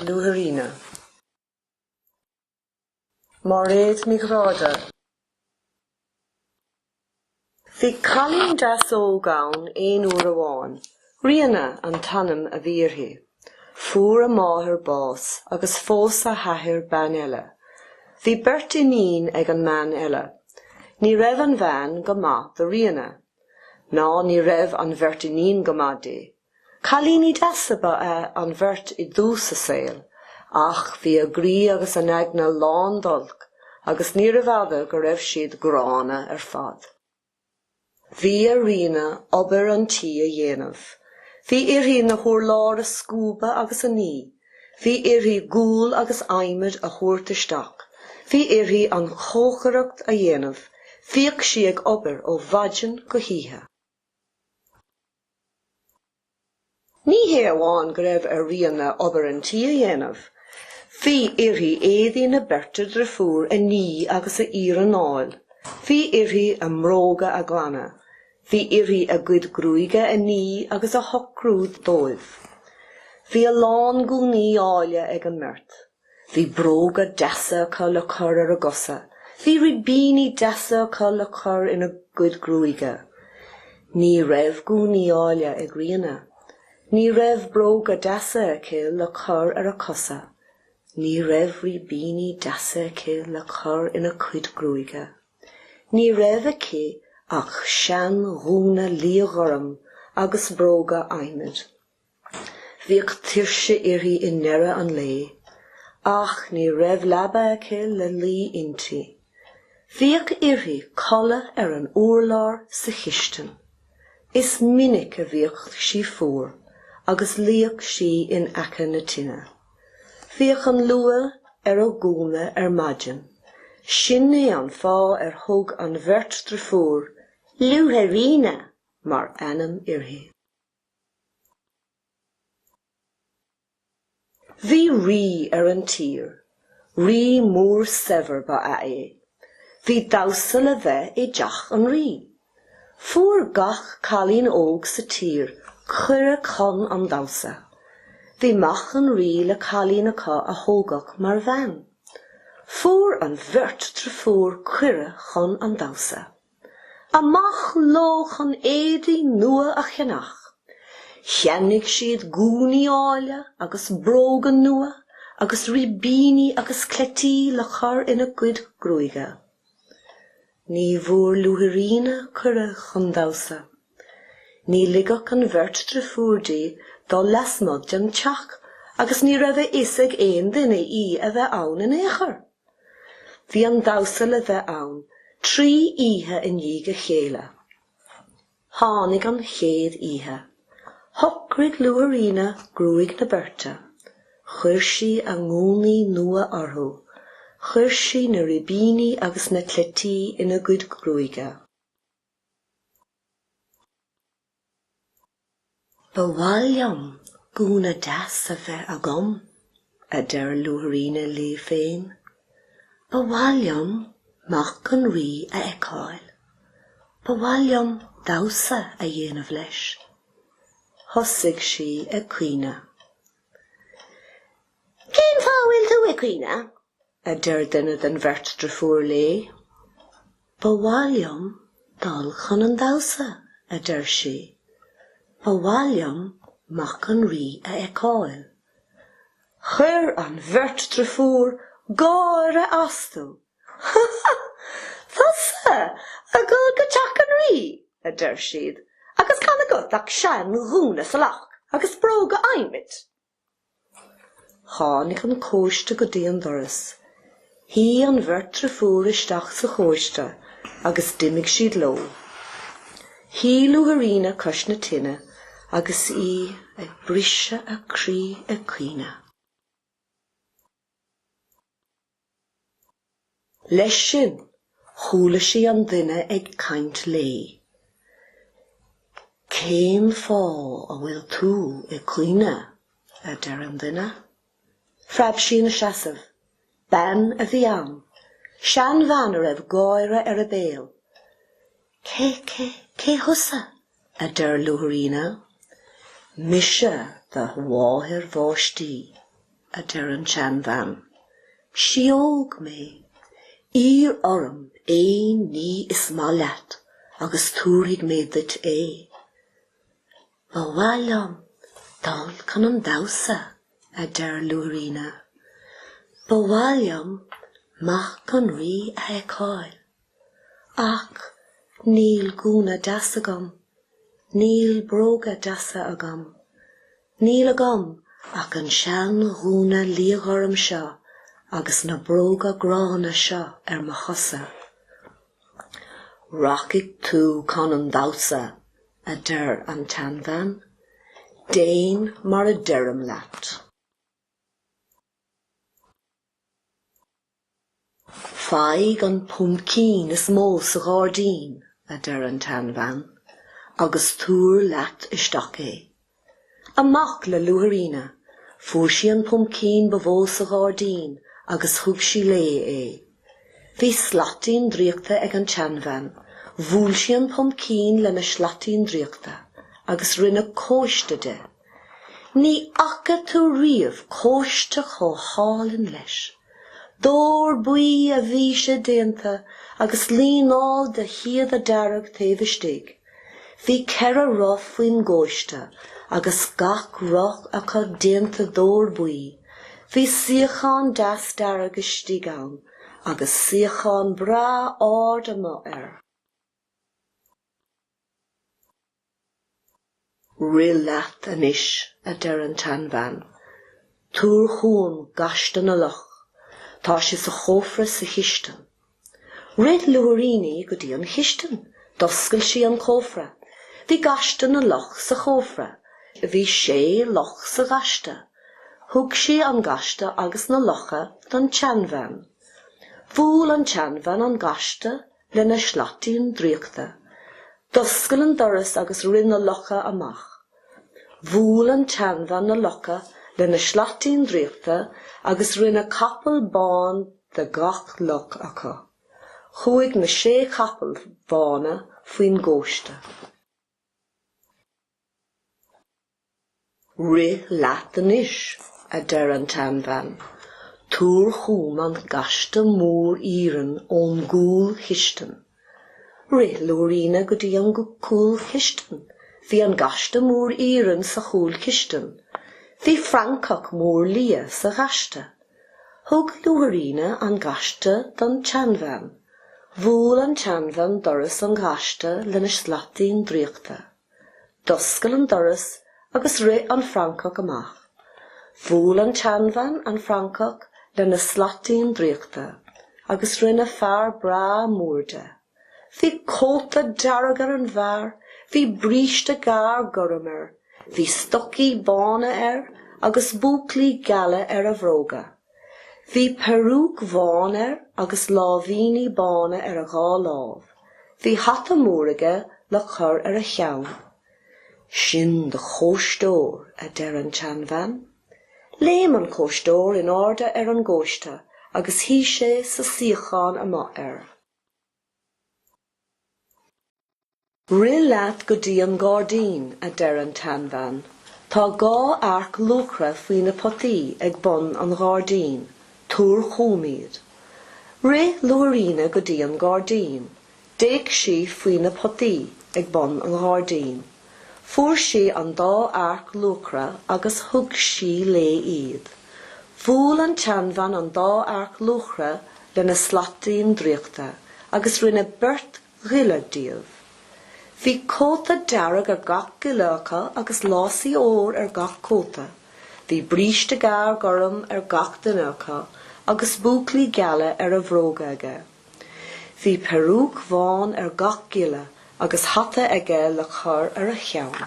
Luaithríona. Máiréad Ní Ghráda. Bhí cailín deas óg ann aon uair amháin. Ríona an t-ainm a bhí uirthi. Fuair a máthair bás agus phós a h-athair bean eile. Bhí beirt iníon ag an mbean eile. Ní raibh an bhean go maith do Ríona. Ná ní raibh an bheirt iníon go maith di. Cailíní deasa ba ea an bheirt i dtús a saoil, ach bhí a gcroí agus a n-aigne lán d'olc agus níorbh fhada go raibh siad gránna ar fad. Bhí ar Ríona obair an tí a dhéanamh. Bhí uirthi na hurláir a scuabadh agus a ní. Bhí uirthi gual agus adhmad a thabhairt isteach, bhí uirthi an chócaireacht a dhéanamh, bhíodh sí ag obair ó mhaidin go hoíche. Ní hé amháin go raibh ar Ríona obair an tí a dhéanamh, bhí uirthi éadaí na beirte driofúr a ní agus a iarnáil, bhí uirthi a mbróga a ghlanadh, Bhí uirthi a gcuid gruaige a ní agus a shocrú dóibh. Bhí a lán gúnaí áille ag an mbeirt. Bhí bróga deasa acu le cur ar a gcosa. Bhí ribíní deasa acu le cur ina gcuid gruaige. Ní raibh gúnaí áille ag Ríona. Ní raibh bróga deasa aici le cur ar a cosa. Ní raibh ribíní deasa aici le cur ina cuid gruaige. Ní raibh aici ach seanghúna liathghorm agus bróga adhmaid. Bhíodh tuirse uirthi i ndeireadh an lae, ach ní raibh leaba aici le luí inti. Bhíodh uirthi codladh ar an urlár sa chistin. Is minic a bhíodh sí fuar agus luíodh sí in aice na tine. Bhíodh an luaith ar a gúna ar maidin. Sin é an fáth ar thug an bheirt driofúr 'Luaithríona' mar ainm uirthi. Bhí rí ar an tír. Rí mór saibhir ba ea é. Bhí damhsa le bheith i dteach an rí. Fuair gach cailín óg sa tír cuireadh chun an damhsa. Bhí mac an rí le cailín acu a thoghadh mar bhean. Fuair an bheirt driofúr cuireadh chun an damhsa. Amach leo chun éadaí nua a cheannach. Cheannaigh siad gúnaí áille agus bróga nua agus ribíní agus cleití le cur ina gcuid gruaige. Ní bhfuair Luaithríona cuireadh chun damhsa. Ní ligfeadh an bheirt driofúr di dul lasmuigh den teach agus ní raibh a fhios ag aon duine í a bheith ann in aon chor. Bhí an damhsa le bheith ann trí oíche in dhiaidh a chéile. Tháinig an chéad oíche. Shocraigh Luaithríona gruaig na beirte. Chuir sí a ngúnaí nua orthu. Chuir sí na ribíní agus na cleití ina gcuid gruaige. Ba mhaith liom gúna deas a bheith agam, a deir Luaithríona léi féin. Ba mhaith liom mac an Rí a fheiceáil. Ba mhaith liom damhsa a dhéanamh leis. Thosaigh sí ag caoineadh. Cén fáth a bhfuil tú ag caoineadh? a deir duine den bheirt driofúr léi. Ba mhaith liom dul chun an damhsa, a deir sí. Ba mhaith liom Mac an Rí a fheiceáil. Chuir an bheirt driofúr gáire astu. Ha ha! Tusa ag dul go teach an Rí, a deir siad, agus gan agat ach sean-ghúna salach agus bróga adhmaid Tháinig an cóiste go dtí an doras. Shuigh an bheirt driofúr isteach sa chóiste agus d'imigh siad leo. Shuigh Luaithríona cois na tine agus í ag briseadh a croí ag caoineadh. Leis sin, chuala sí an duine ag caint léi. Cén fáth a bhfuil tú ag caoineadh? a deir an duine. Phreab sí ina seasamh. Bean a bhí ann. Seanbhean a raibh gáire ar a béal. Cé, cé, cé thusa? a deir Luaithríona. Mise do mháthair bhaistí, a deir an tseanbhean. Síóg mé. Iarr orm aon ní is maith leat agus tabharfaidh mé duit é. Ba mhaith liom dul chun an damhsa, a deir Luaithríona. Ba mhaith liom mac an rí a fheiceáil. Ach níl gúna deas agam. Níl bróga deasa agam. Níl agam ach an sean ghúna liathghorm seo agus na bróga gránna seo ar mo chosa. Rachaidh tú chun an damhsa, a deir an tseanbhean. Déan mar a deirim leat. Faigh an puimcín is mó sa ghairdín, a deir an tseanbhean, agus tabhair leat isteach é. Amach le Luaithríona, fuair sí an puimcín ba mhó sa ghairdín agus thug sí léi é. Bhí slaitín draíochta ag an tseanbhean, bhuail sí an puimcín lena slaitín draíochta agus rinne cóiste de. Ní fhaca tú riamh cóiste chomh hálainn leis. D'ór buí a bhí sé déanta agus líneáil de shíoda dearg taobh istigh. Bhí ceithre roth faoin gcóiste agus gach roth acu déanta d'ór buí. Bhí suíochán deas dearg istigh ann agus suíochán breá ard amuigh air. Rith leat anois, a deir an tseanbhean. Tabhair chugam gaiste na luch. Tá sé sa chófra sa chistin. Rith Luaithríona go dtí an chistin. D'oscail sí an cófra. Bhí gaiste na luch sa chófra. Bhí sé luch sa ghaiste. Thug sí an gaiste agus na lucha don tseanbhean. Bhuail an tseanbhean an gaiste lena slaitín draíochta, d'oscail an doras agus rith na lucha amach. Bhuail an tseanbhean na lucha lena slaitín draíochta agus rinne capall bán de gach luch acu. Chuaigh na sé chapall bhána faoin gcóiste. Rith leat anois, a deir an tseanbhean. Tabhair chugam an gaiste mór iarainn ón gcúlchistin. Rith Luaithríona go dtí an chúlchistin. Bhí an gaiste mór iarainn sa chúlchistin. Bhí francach mór liath sa ghaiste. Thug Luaithríona an gaiste don tseanbhean. Bhuail an tseanbhean doras an ghaiste lena slaitín draíochta. D'oscail an doras agus rith an francach amach. Bhuail an tseanbhean an francach lena slaitín draíochta agus rinne fear breá mór de. Bhí cóta dearg ar an bhfear, bhí bríste gearr gorm air, bhí stocaí bána air agus búclaí geala ar a bhróga. Bhí peiriúic bhán air agus láimhíní bána ar a dhá lámh. Bhí hata mór aige le cur ar a cheann. Sin do chóisteoir, a deir an tseanbhean. Léim an cóisteoir in airde ar an gcóiste agus shuigh sé sa suíochán amuigh air. Rith leat go dtí an gairdín, a deir an tseanbhean. Tá dhá earc luachra faoi na potaí ag bun an ghairdín. Tabhair chugam iad. Rith Luaithríona go dtí an gairdín. D'fhéach sí faoi na potaí ag bun an ghairdín. Fuair sí an dá earc luachra agus thug sí léi iad. Bhuail an tseanbhean an dá earc luachra lena slaitín draíochta agus rinne beirt ghiolla díobh. Bhí cóta dearg ar gach giolla acu agus lásaí óir ar gach cóta. Bhí bríste gearr gorm ar gach duine acu agus búclaí geala ar a bhróga aige. Bhí peiriúic bhán ar gach giolla agus hata aige le cur ar a cheann.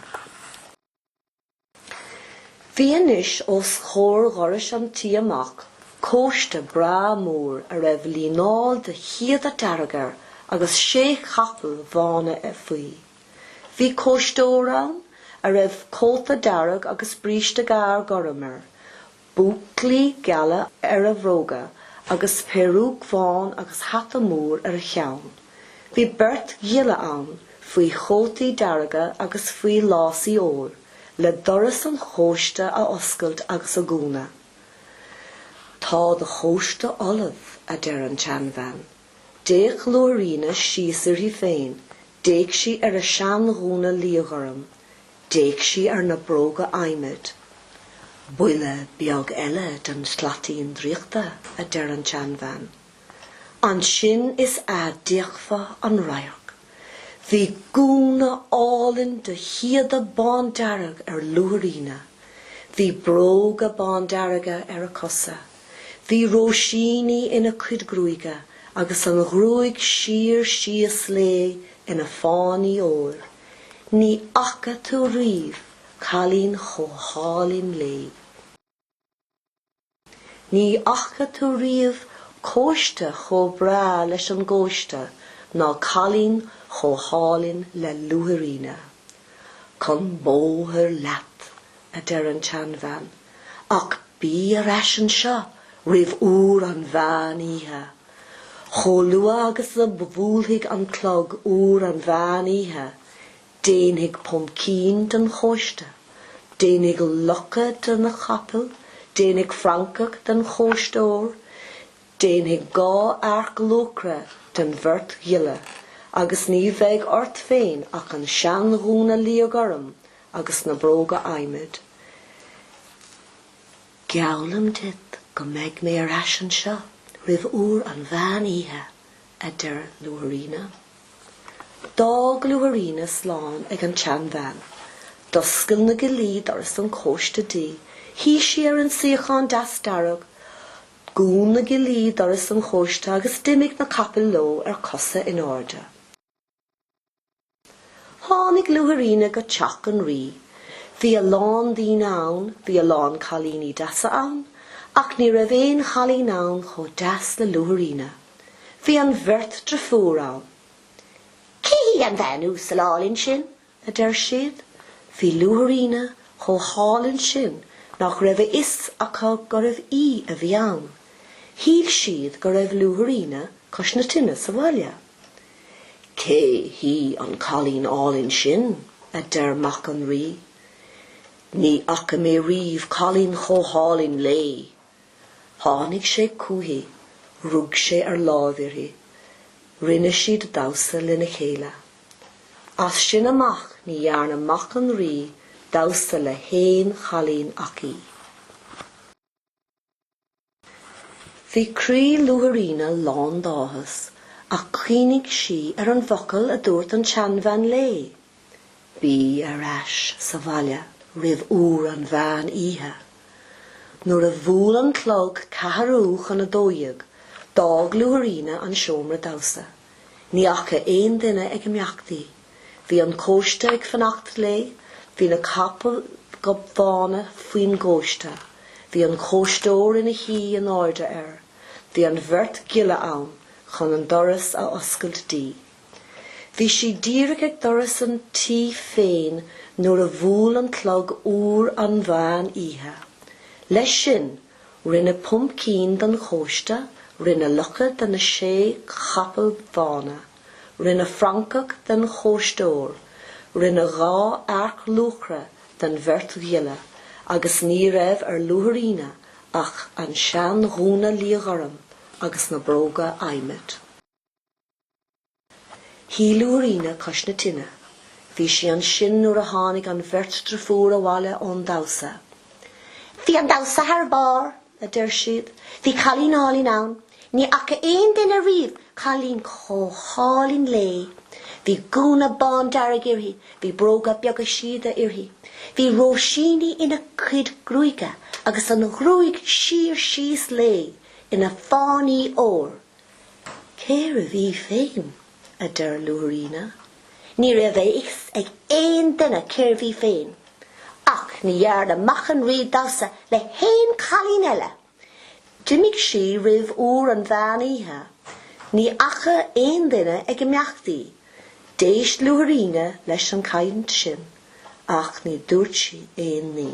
Bhí anois os comhair dhoras an tí amach cóiste breá mór a raibh líneáil de shíoda dearg air agus sé chapall bhána faoi. Bhí cóisteoir ann a raibh cóta dearg agus bríste gearr gorm air, Búclaí geala ar a bhróga agus peiriúic bhán agus hata mór ar a cheann. Bhí beirt ghiolla ann faoi chótaí dearga agus faoi lásaí óir le doras an chóiste a oscailt agus a dhúnadh. Tá do chóiste ullamh, a deir an tseanbhean. D'fhéach Luaithríona síos uirthi féin, d'fhéach sí ar a seanghúna liathghorm, d'fhéach sí ar na bróga adhmaid. Buille beag eile den tslaitín draíochta, a deir an tseanbhean. Ansin is ea d'fheicfeá an radharc. Bhí gúna álainn de shíoda bándearg ar Luaithríona. Bhí bróga bándearga ar a cosa. Bhí róisíní ina cuid gruaige agus an ghruaig siar síos léi ina fáinní óir. Ní fhaca tú riamh cailín chomh hálainn léi. Ní fhaca tú riamh cóiste chomh breá leis an gcóiste ná cailín chomh hálainn le Luaithríona. Chun bóthair leat, a deir an tseanbhean, ach bí ar ais anseo roimh uair an mheán oíche. Chomh luath agus a bhuailfidh an clog uair an mheán oíche, déanfaidh pumpkin den chóiste, déanfaidh lucha de na capaill, déanfaidh francach den chóisteoir, déanfaidh dhá earc luachra den bheirt ghiolla, agus ní bheidh ort féin ach an seanghúna liathghorm agus na bróga adhmaid. Geallaim duit go mbeidh mé ar ais anseo roimh uair an mheán oíche, a deir Luaithríona. D'fhág Luaithríona slán ag an tseanbhean. D'oscail na gillí doras an chóiste di. Shuigh sí ar an suíochán deas dearg. Dhún na gillí doras an chóiste agus d'imigh na capaill leo ar cosa in airde. Tháinig Luaithríona go teach an Rí. Bhí a lán daoine ann, bhí a lán cailíní deasa ann, ach ní raibh aon chailín ann chomh deas le Luaithríona. Bhí an bheirt driofúr ann. Cé hí an bhean uasal álainn sin? a deir siad. Bhí Luaithríona chomh hálainn sin nach raibh a fhios acu gurbh í a bhí ann. Shíl siad go raibh Luaithríona cois na tine sa bhaile. Cé hí an cailín álainn sin? a deir mac an Rí. Ní fhaca mé riamh cailín chomh hálainn léi. Tháinig sé chuici, rug sé ar láimh uirthi. Rinne siad damhsa lena chéile. As sin amach ní dhearna mac an Rí damhsa le haon chailín ach í. Bhí croí Luaithríona lán d'áthas ach chuimhnigh sí ar an bhfocal a dúirt an tseanbhean léi, Bí ar ais sa bhaile roimh uair an mheán oíche. Nuair a bhuail an clog ceathrú chun a dó dhéag, d'fhág Luaithríona an seomra damhsa. Ní fhaca aon duine ag imeacht í. Bhí an cóiste ag fanacht léi, bhí na capaill ghobbhána faoin gcóiste, bhí an cóisteoir ina shuí in airde air, bhí an bheirt ghiolla ann chun an doras a oscailt di. Bhí sí díreach ag doras an tí féin nuair a bhuail an clog uair an mheán oíche. Leis sin Rinne puimcín den chóiste, rinne lucha de na sé chapall bhána, rinne francach den chóisteoir, rinne dhá earc luachra den bheirt ghiolla agus ní raibh ar Luaithríona ach an seanghúna liathghorm agus na bróga adhmaid. Shuigh Luaithríona cois na tine. Bhí sí ansin nuair a tháinig an bheirt driofúr abhaile ón damhsa. Bhí an damhsa thar barr, a deir siad. Bhí cailín álainn ann. Ní fhaca aon duine riamh cailín chomh hálainn léi. Bhí gúna bándearg uirthi, bhí bróga beaga síoda uirthi. Bhí róisíní ina cuid gruaige agus an ghruaig siar síos léi ina fáinní óir. Cérbh í féin? a deir Luaithríona. Ní raibh a fhios ag aon duine cérbh í féin, ach ní dhearna mac an Rí damhsa le haon chailín eile. D'imigh sí roimh uair an mheán oíche. Ní fhaca aon duine ag imeacht í. D'éist Luaithríona leis an chaint sin, ach ní dúirt sí aon ní.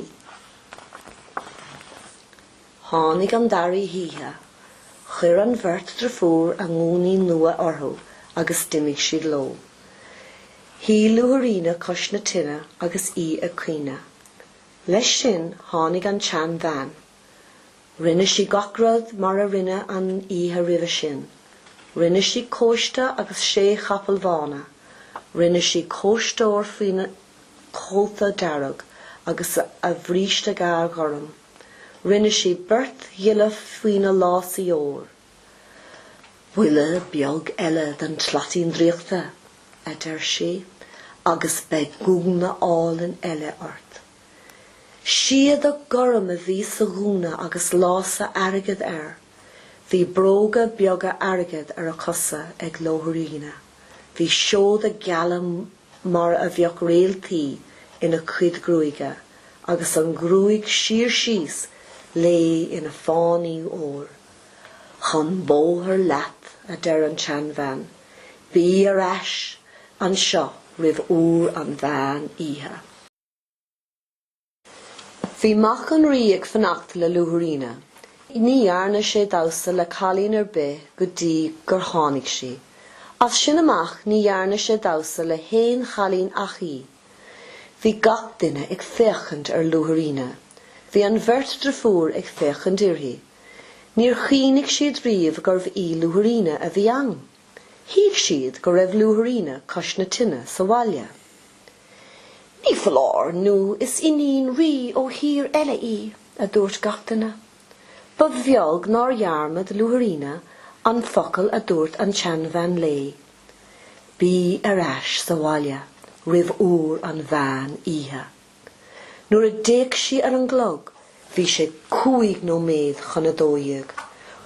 Tháinig an dara hoíche, chuir an bheirt driofúr a ngúnaí nua orthu agus d'imigh siad leo. Shuigh Luaithríona cois na tine agus í ag caoineadh. Leis sin tháinig an tseanbhean. Rinne sí gach rud mar a rinne an oíche roimhe sin. Rinne sí cóiste agus sé chapall bhána. Rinne sí cóisteoir faoina cóta dearg agus a bhríste gearr gorm. Rinne sí beirt ghiollaí faoina lása óir. Buille beag eile den tslaitín draíochta, a deir sí, agus beidh gúna álainn eile ort. Síoda gorm a bhí sa ghúna agus lása airgid air. Bhí bróga beaga airgid ar a cosa ag Luaithríona. Bhí seoda geala mar a bheadh réaltaí ina cuid gruaige agus an ghruaig siar síos léi ina fáinní óir. Chun bóthair leat, a deir an tseanbhean, bí ar ais anseo roimh uair an mheán oíche. Bhí Mac an Rí ag fanacht le Luaithríona. Ní dhearna sé damhsa le cailín ar bith go dtí gur tháinig sí. As sin amach ní dhearna sé damhsa le haon chailín ach í. Bhí gach duine ag féachaint ar Luaithríona. Bhí an bheirt driofúr ag féachaint uirthi. Níor chuimhnigh siad riamh gurbh í Luaithríona a bhí ann. Shíl siad go raibh Luaithríona cois na tine sa bhaile. Ní foláir nó is iníon rí ó thír eile í, a dúirt gach duine. Ba bheag nár dhearmad Luaithríona an focal a dúirt an tseanbhean léi, Bí ar ais sa bhaile roimh uair an mheán oíche. Nuair a d'fhéach sí ar an gclog bhí sé cúig nóiméad chun a dó dhéag.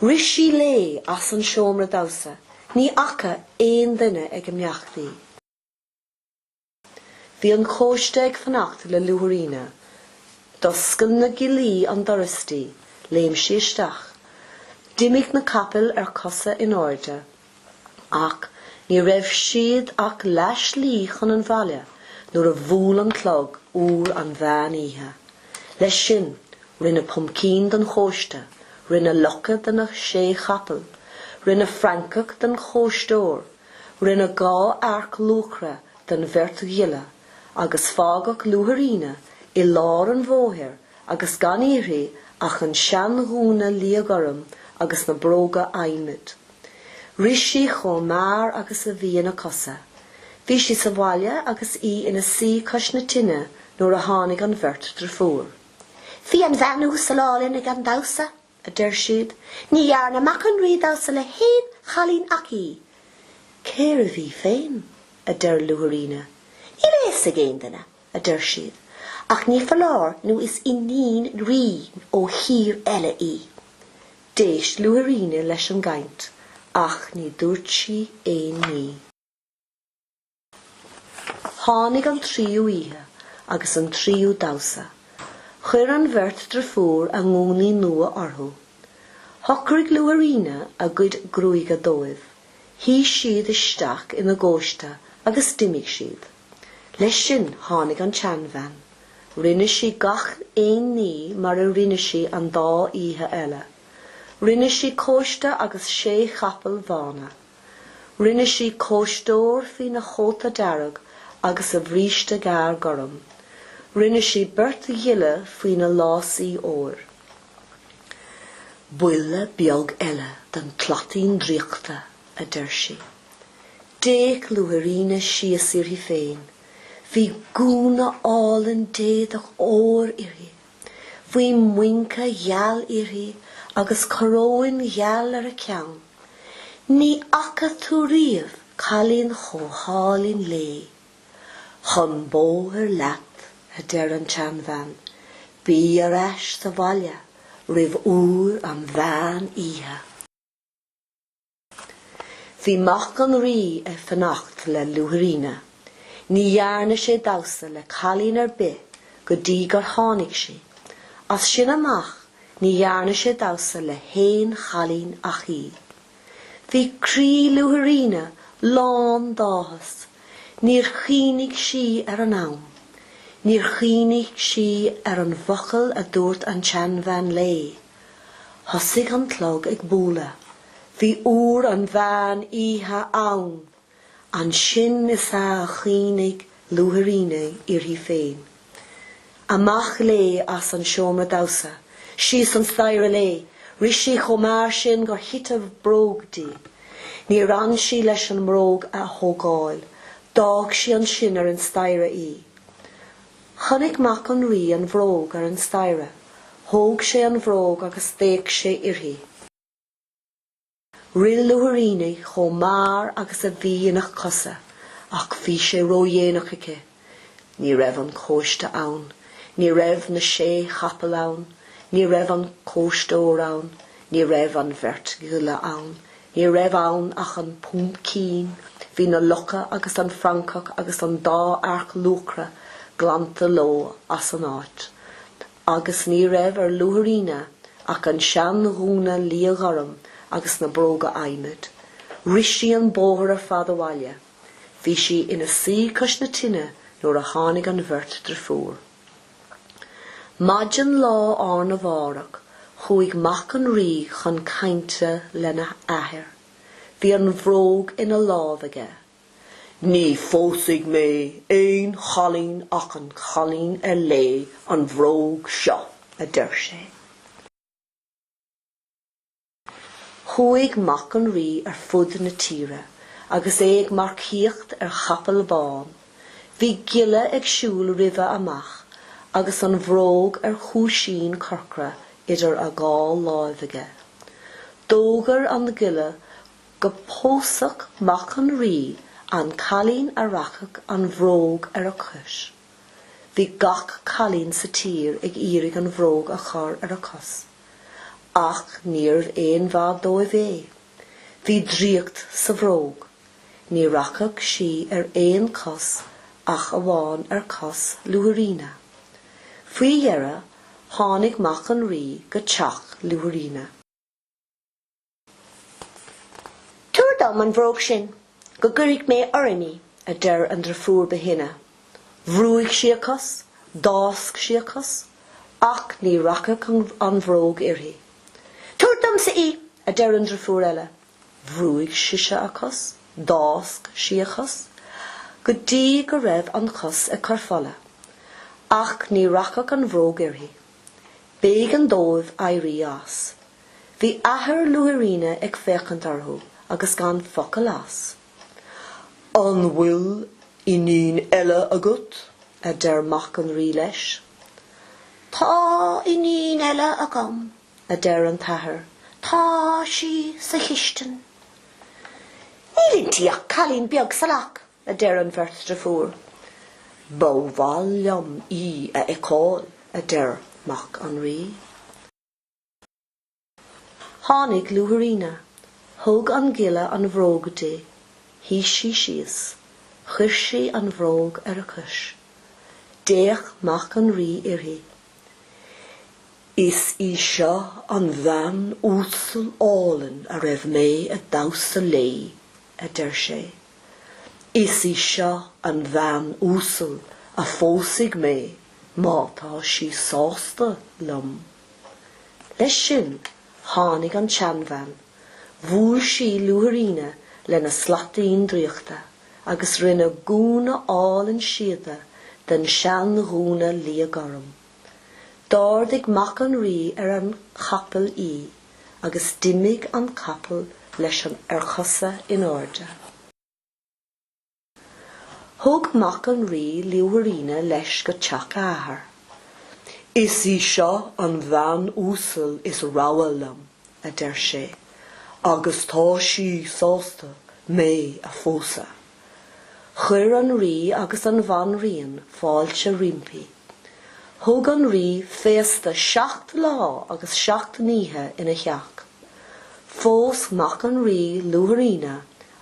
Rith sí léi as an seomra damhsa, ní fhaca aon duine ag imeacht í. Bhí an cóiste ag fanacht le Luaithríona. D'oscail na giollaí an doras di, léim sí isteach. D'imigh na capaill ar cosa in airde. ach ní raibh siad ach leath slí chun an bhaile nuair a bhuail an clog uair an mheán oíche. Leis sin, rinneadh pumpkin den chóiste, rinneadh lucha de na sé chapaill, rinneadh francach den chóisteoir, rinneadh dhá earc luachra den bheirt ghiolla, agus fágadh Luaithríona i lár an bhóthair agus gan uirthi ach an seanghúna liathghorm agus na bróga adhmaid. Rith sí chomh mear agus a bhí ina cosa. Bhí sí sa bhaile agus í ina suí cois na tine nuair a tháinig an bheirt deirfiúr. Bhí an bhean uasal álainn ag an damhsa, a deir siad. Ní dhearna mac an rí damhsa le haon chailín ach í. Cérbh í féin? a deir Luaithríona. Níl a fhios ag aon duine. a deir siad, ach ní foláir nó is iníon rí ó thír eile í. D'éist Luaithríona leis an gcaint, ach ní dúirt sí aon ní. Tháinig an tríú oíche agus an tríú damhsa. Chuir an bheirt deirfiúr a ngúnaí nua orthu. Shocraigh Luaithríona a gcuid gruaige dóibh, shuigh siad isteach ina gcóiste agus d'imigh siad. Leis sin tháinig an tseanbhean. Rinne sí gach aon ní mar a rinne sí an dá oíche eile. Rinne sí cóiste agus sé chapaill bhána. Rinne sí cóisteoir faoina chóta dearg agus a bhríste gearr gorm. Rinne sí beirt ghiolla faoina lásaí óir. Buille beag eile den tslaitín draíochta. a deir sí. D'fhéach Luaithríona síos uirthi féin. Bhí gúna álainn d'éadach óir uirthi. Bhí muince gheal uirthi agus coróin gheal ar a ceann. Ní fhaca tú riamh cailín chomh hálainn léi. Chun bóthair leat, a deir an tseanbhean. Bí ar ais sa bhaile roimh uair an mheán oíche. Bhí Mac an Rí ag fanacht le Luaithríona. Ní dhearna sé damhsa le cailín ar bith go dtí gur tháinig sí. As sin amach ní dhearna sé damhsa le haon chailín ach í. Bhí croí Luaithríona lán d'áthas. Níor chuimhnigh sí ar an am. Níor chuimhnigh sí ar an bhfocal a dúirt an tseanbhean léi. Thosaigh an clog ag bualadh. Bhí uair an mheán oíche ann. Ansin is ea a chuimhnigh Luaithríona uirthi féin. Amach léi as an seomra damhsa, síos an staighre léi. Rith sí chomh mear sin gur thit a bróg di. Níor fhan sí leis an mbróg a thógáil. D'fhág sí ansin ar an staighre í. Chonaic mac an rí an bhróg ar an staighre. Thóg sé an bhróg agus d'fhéach sé uirthi. Rith Luaithríona chomh mear agus a bhí ina cosa, ach bhí sé ródhéanach aici. Ní raibh an cóiste ann. Ní raibh na sé chapall ann. Ní raibh an cóisteoir ann. Ní raibh an bheirt ghiolla ann. Ní raibh ann ach an puimcín, bhí na lucha agus an francach agus an dá earc luachra glanta leo as an áit. Agus ní raibh ar Luaithríona ach an seanghúna liathghorm agus na bróga adhmaid. Rith sí an bóthar ar fad abhaile. Bhí sí ina suí cois na tine nuair a tháinig an bheirt driofúr. Maidin lá arna mhárach chuaigh mac an Rí chun cainte lena athair. Bhí an bhróg ina lámh aige. Ní phósfaidh mé aon chailín ach an cailín ar léi an bhróg seo, a deir sé. Chuaigh Mac an Rí ar fud na tíre agus é ag marcaíocht ar chapall bán. Bhí giolla ag siúl roimhe amach agus an bhróg ar chúisín corcra idir a dhá láimh aige. D'fhógair an giolla go bpósfadh Mac an Rí an cailín a rachadh an bhróg ar a cos. Bhí gach cailín sa tír ag iarraidh an bhróg a chur ar a cos. Ach níorbh aon mhaith dóibh é. Bhí draíocht sa bhróg. Ní rachadh sí ar aon chos ach amháin ar chos Luaithríona. Faoi dheireadh tháinig mac an Rí go teach Luaithríona. Tabhair dom an bhróg sin go gcuirfidh mé orm í, a deir an driofúr ba shine. Bhrúigh sí a cos, d'fhásc sí a cos, ach ní rachadh an bhróg uirthi. Tabhair domsa í, a deir an driofúr eile. Bhrúigh sise a cos, d'fhásc sí a cos, go dtí go raibh an chos ag cur fola, ach ní rachadh an bhróg uirthi. B'éigean dóibh éirí as. Bhí athair Luaithríona ag féachaint orthu agus gan focal as. An bhfuil iníon eile agat? a deir mac an Rí leis. Tá iníon eile agam, a deir an t-athair, tá sí sa chistin. Níl inti ach cailín beag salach, a deir an bheirt driofúr. Ba mhaith liom í a fheiceáil, a deir mac an Rí. Tháinig Luaithríona. Thug an giolla an bhróg di. Shuigh sí síos. Chuir sí an bhróg ar a cois. D'fhéach Mac an Rí uirthi. Is í seo an bhean uasal álainn a raibh mé ag damhsa léi, a deir sé. Is í seo an bhean uasal a phósfaidh mé má tá sí sásta liom. Leis sin tháinig an tseanbhean, bhuail sí Luaithríona lena slaitín draíochta agus rinne gúna álainn síoda den seanghúna liath gorm. D'ardaigh Mac an Rí ar an chapall í agus d'imigh an capall leis ar chosa in airde. Thug mac an Rí Luaithríona leis go teach a athar. Is í seo an bhean uasal is rogha liom, a deir sé, agus tá sí sásta mé a phósadh. Chuir an Rí agus an Bhanríon fáilte roimpi. Thug an Rí féasta seacht lá agus seacht n-oíche ina theach. Phós mac an Rí Luaithríona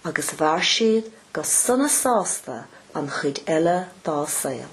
agus mhair siad go sona sásta an chuid eile dá saol.